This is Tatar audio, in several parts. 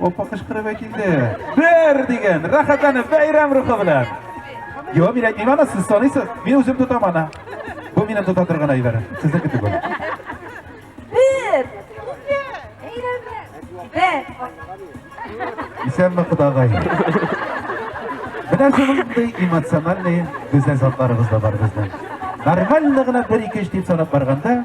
Опа кычкырып килде. Бер дигән, рәхәтләнеп бәйрәм рухы белән. Йо, мин әйтмим аны, сез саныйсыз. Мин үзем тотам аны. Бу минем тота торган әйбер. Сезнеке түгел. Бер. Бер. Исәнме кудагай. Менә шундый эмоциональный безнең затларыбыз да бар безнең. Нормально гына бер-ике эш дип санап барганда,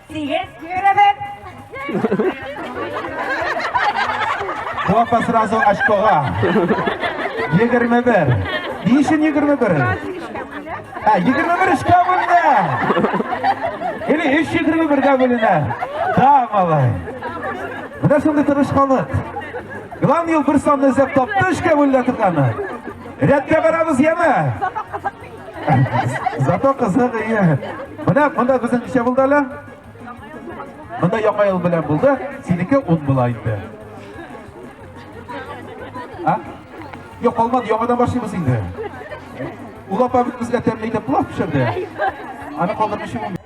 Тигез йөребез! Папа сразу очкога. Егерме бер. Ни өчен егерме бер? Ә, егерме бер өчкә бүленә. Или өч егерме бергә бүленә. Да, малай. Менә шундый тырышканлык. Главный ел бер санны эзләп тапты, өчкә бүленә торганы. Рәткә барабыз, яме? Зато кызык ие. Менә монда безнең ничә булды әле? Монда яңа ел белән булды, синеке 10 була инде. А? Юк, алмады, яңадан башлыйбыз инде. Ул апа безгә тәмле итеп плов пешерде. Аны калдырмыйча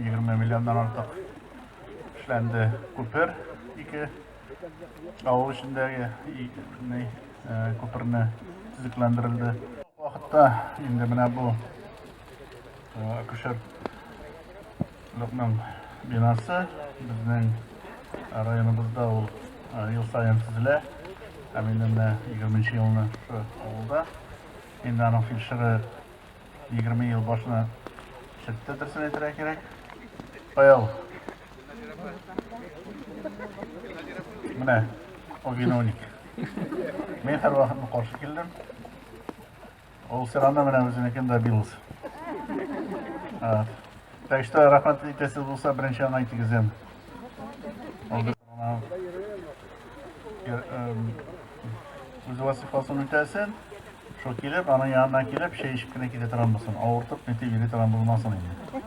20 миллионнан артык эшләнде күпер ике авыл эчендәге күперне төзекләндерелде вакытта инде менә бу акушер Лыкның бинасы безнең районыбызда ул ел сайын төзелә. Ә мин менә 20 елны авылда. Инде аның фельдшеры 20 ел башына чыкты, берсен әйтергә кирәк. Каял. Менә, о виновник. Мин һәр вакытны каршы килдем. Ул сиранда менә үзенекен дә билус. Так что рахмат итәсез булса, беренче аңа итегезем. Үз вазифасын үтәсен. Шул килеп, аның янына килеп, чәй эчеп кенә китә торган булсын, авыртып, нитеп йөри торган булмасын инде.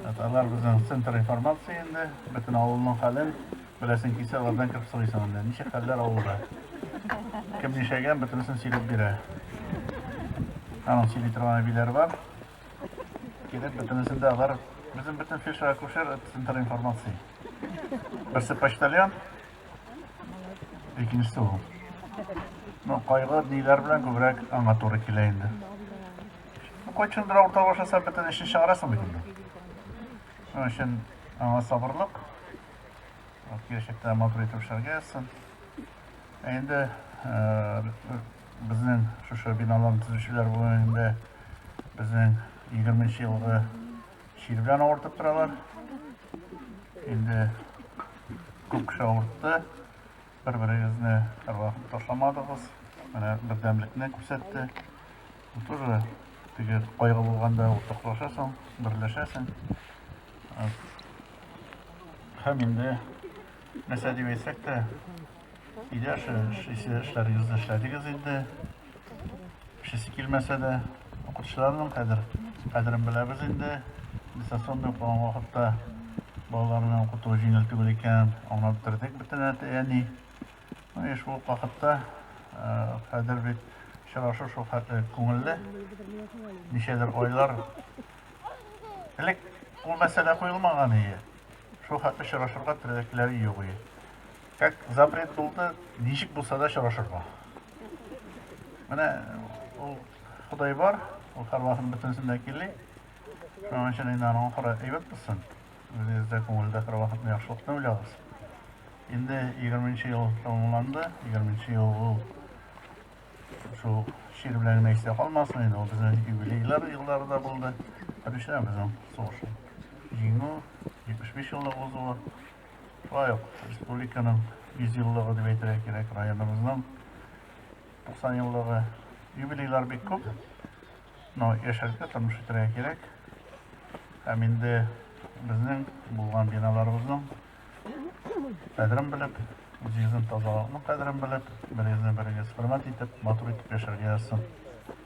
Татарлар безнең центр информации инде, бөтен авылның хәлен беләсен килсә, алардан кереп сорыйсың инде. Ничек хәлләр авылда? Кем нишәгән, бөтенесен сөйләп бирә. Аның сөйли торган әбиләр бар. Килеп, бөтенесен дә алар, безнең бөтен фельдшер акушер центр информации. Берсе почтальон, Икенчесе ул. Ну, кайгы ниләр белән күбрәк аңа туры килә инде. Кайчандыр урта башласа бөтен эшен чыгарасың бит инде. Шуның өчен аңа сабырлык. Киләчәктә матур итеп эшләргә язсын. Ә инде безнең шушы биналарны төзүчеләр бүгенге безнең 20 елгы Чир белән авыртып торалар. Инде күп кеше авыртты. Бер-берегезне ыргатып ташламадыгыз. Менә бердәмлекне күрсәтте. Бу тоже теге кайгы булганда уртаклашасың, берләшәсең. Һәм инде нәрсә дип әйтсәк тә, өйдә эшләрегезне эшләдегез инде. Эчәсе килмәсә дә, укытучыларның кадер, кадерен беләбез инде. Дистанционный укыган вакытта балаларны укыту җиңел түгел икән, аңлап бетердек бөтен әти, әни. Ну и шул вакытта кадер бит очрашу шул хәтле күңелле. Ничәдер айлар элек ул мәсьәлә куелмаган иде. Шул хәтле очрашырга теләкләре юк иде. Как запрет булды, ничек булса да очрашырга. Менә ул Ходай бар, ул хәрвасын бөтенсен дә кили. Шуның өчен инде аның хора әйбәт булсын. Үзегез дә күңелдә хәрвахатны яхшылыкны уйлагыз. Инде 20 ел тәмамланды, 20 ел ул шул шир белән генә истә калмасын, инде ул безнең юбилейлар еллары да булды. Беренчедән безнең сугыш җиңү, 75 еллык узуы. Шулай ук республиканың 100 еллыгы дип әйтергә кирәк, районыбызның 90 еллыгы. Юбилейлар бик күп, но яшәргә, тормыш итәргә кирәк. Һәм инде безнең булган биналарыбызның кадерен белеп, үзегезнең тазалыкның кадерен белеп, берегезне берегез хөрмәт итеп, матур итеп яшәргә язсын.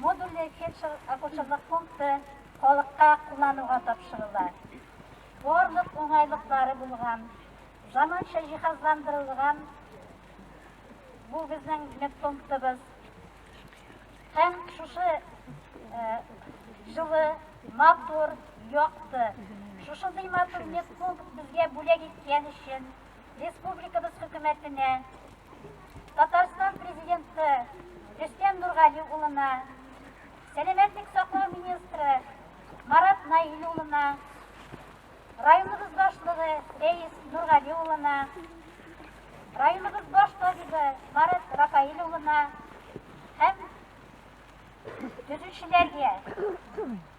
Модульле фельдшер-акушерлык пункты халыкка куллануга тапшырыла. Барлык уңайлыклары булган, заманча җиһазландырылган бу безнең медпунктыбыз. Һәм шушы җылы, матур, якты, шушындый матур медпункт безгә бүләк иткән өчен Республикабыз хөкүмәтенә, Татарстан президенты Рөстәм Нургали улына, сәламәтлек саклау министры Марат Наил улына, районыбыз башлыгы Рәис Нургали улына, районыбыз баш табибы Марат Рафаил улына һәм төзүчеләргә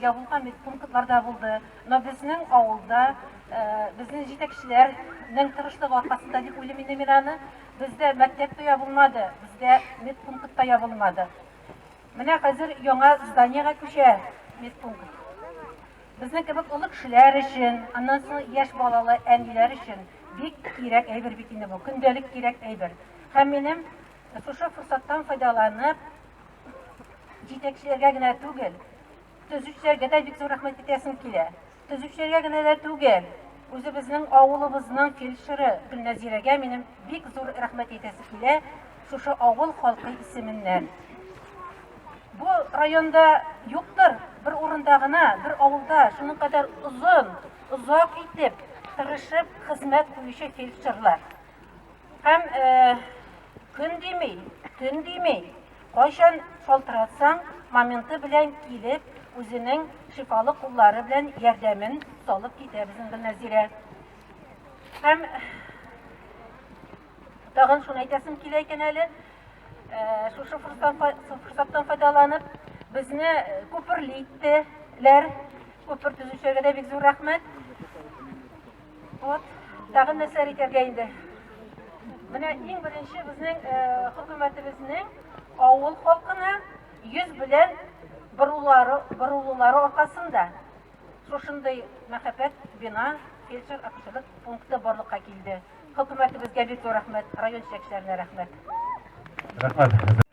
Ягулга медпунктлар да булды, но безнең авылда, безнең җитәкчеләрнең тырышлыгы аркасында дип уйлыйм инде мин аны, бездә мәктәп тә ябылмады, бездә медпункт та ябылмады. Менә хәзер яңа зданиегә күчә медпункт. Безнең кебек олы кешеләр өчен, аннан соң яшь балалы әниләр өчен бик кирәк әйбер бит инде бу, көндәлек кирәк әйбер. Һәм минем шушы форсаттан файдаланып, җитәкчеләргә генә түгел, төзүчеләргә дә бик зур рәхмәт әйтәсем килә. Төзүчеләргә генә дә түгел, үзебезнең авылыбызның фельдшеры Гөлнәзирәгә минем бик зур рәхмәт әйтәсе килә, шушы авыл халкы исеменнән. Бу районда юктыр, бер урында гына, бер авылда шуның кадәр озын, озак итеп, тырышып хезмәт куючы фельдшерлар. Һәм көн дими, төн дими, кайчан шалтыратсаң, моменты белән килеп, үзенең шифалы куллары белән ярдәмен салып китә безнең Гөлнәзирә. Һәм тагын шуны әйтәсем килә икән әле, шушы форсаттан файдаланып, безне күперли иттеләр. Күпер төзүчеләргә дә бик зур рәхмәт. Вот, тагын нәрсәләр әйтергә инде. Менә иң беренче безнең э, хөкүмәтебезнең авыл халкына йөз белән борулары, борулулары аркасында шушындый мәхәббәт бина фельдшер акушерлык пункты барлыкка килде. Хөкүмәтебезгә бик зур рәхмәт, район җитәкчеләренә рәхмәт. Рәхмәт.